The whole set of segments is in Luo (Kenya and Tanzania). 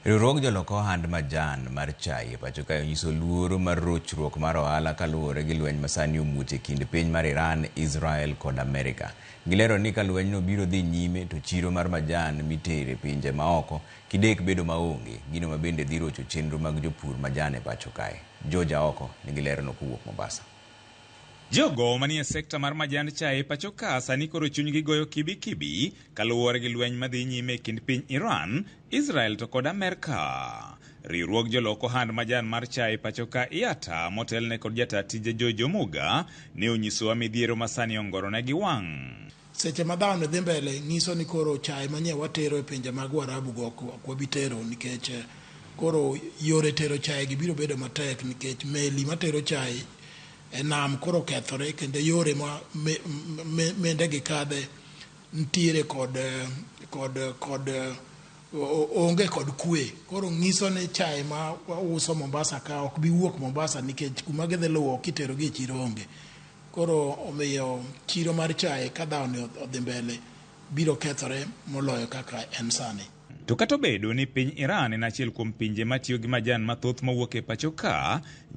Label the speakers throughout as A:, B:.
A: Riwruog jolok ohand majan mar chai e pacho kae onyiso luoro mar rochruok mar ohala kaluwore gi lweny masani omuoch e kind piny mar Iran, Israel kod Amerika. Gilero ni ka lwenyno biro dhi nyime to chiro mar majan mitero e pinje maoko kidek bedo maonge, gino mabende dhi rocho chenro mag jopur majan e pacho kae. George Aoko nigi lerono kowuok Mombasa. Jogo
B: manie sekta mar majand chai pachoka sani koro chunygi goyo kibi kibi kaluwore gi lweny madhi nyime e kind piny Iran, Israel to kod Amerka. Riwruog jolok ohand majan mar chai pachoka IATA motelne kod jataa tije George Omuga ne onyisowa midhiero masani ongoronegi wang'. Seche ma dhano
C: dhi mbele nyiso ni koro chae manye watero e pinje mag Warabu go ok wabi tero nikech eh, koro yore tero chae gi biro bedo matek nikech meli matero chae e nam koro kethore kendo yore ma mende gi kadhe ntiere kod eh, kod eh, kod onge kod kwe koro nyiso ni chae ma wauso Mombasa ka ok bi wuok Mombasa nikech kuma gidhi luwo kitero gi e chiro onge Koro omiyo chiro mar chae ka dhawoni odhi mbele biro kethore moloyo kaka en sani. To kata obedo
B: ni piny Iran en achiel kuom pinje matiyo gi majan mathoth mawuok e pacho ka,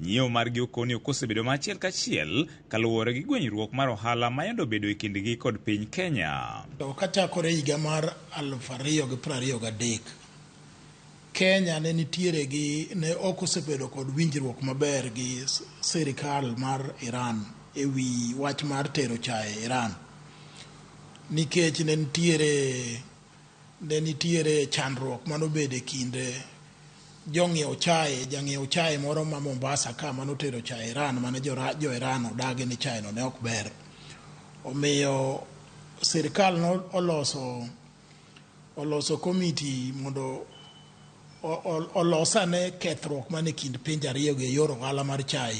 B: nyiewo margi okoni ok osebedo ma achiel kachiel kaluwore gi gwenyruok mar ohala mayande obedo e kindgi kod piny Kenya. To kachakore
C: higa mar aluf ariyo gi prariyo gadek, Kenya ne nitiere gi ne ok osebedo kod winjruok maber gi sirikal mar Iran e wi wach mar tero chae Iran nikech ne nitiere ne nitiere chandruok mane obedo e kind jong'iew chae jang'iew chae moro ma Mombasa ka mane otero chae Iran mane jo, jo Iran odagi ni chae no ne ok ber omiyo sirikal noloso oloso komiti mondo olos ane kethruok man e kind pinje ariyogo e yor ohala mar chai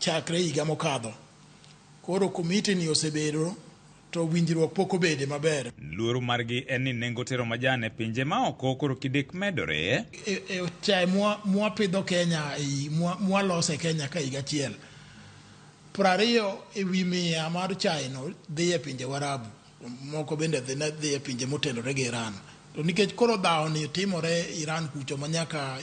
C: chakre higa mokadho. Koro komitini osebedo to winjruok pok obede maber. Luoro margi en
B: ni nengo tero majan e pinje ma oko koro kidek medore. E, e chai
C: mwapidho Kenya mwalose Kenya ka higa achiel, prariyo e wi mia mar chai no dhi e pinje Warabu. Moko bende dhi ne dhi e pinje motenore gi Iran. To nikech koro dhawoni timore Iran kucho ma nyaka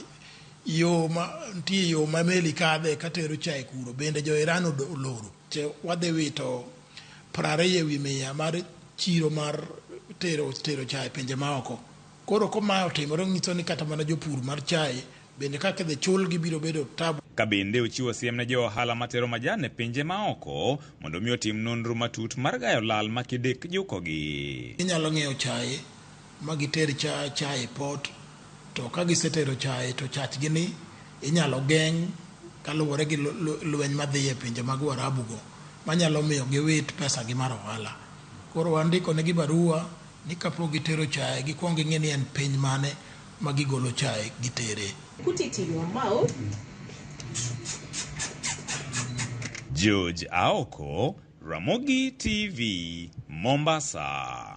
C: yo ma nitie yo ma meli kadhe katero chai kuro bende jo Iran odo- oloro. Che wadhi wito prariyo ewi mia mar chiro mar tero tero chai pinje maoko. Koro ko mae otimore onyiso ni kata mana jopur mar chae bende kaka idhi chulgi biro bedo tabu. Ka bende ochiwo
B: siem ne jo ohala matero majan e pinje maoko mondo mi otim nonro matut mar gayo lal ma kidek jukogi. Ginyalo ng'iewo chae
C: ma giter cha chae port to ka gisetero chae to chachgi ni inyalo geng' kaluwore gi lweny madhi e pinje mag Uarabu go manyalo miyo giwit pesa gi mar ohala. Koro wandiko negi barua ni kapok gitero chaye gikwong ging'i ni en piny mane ma gigolo chaye gitere. Put it in your
D: mouth.
B: George Aoko, Ramogi TV, Mombasa.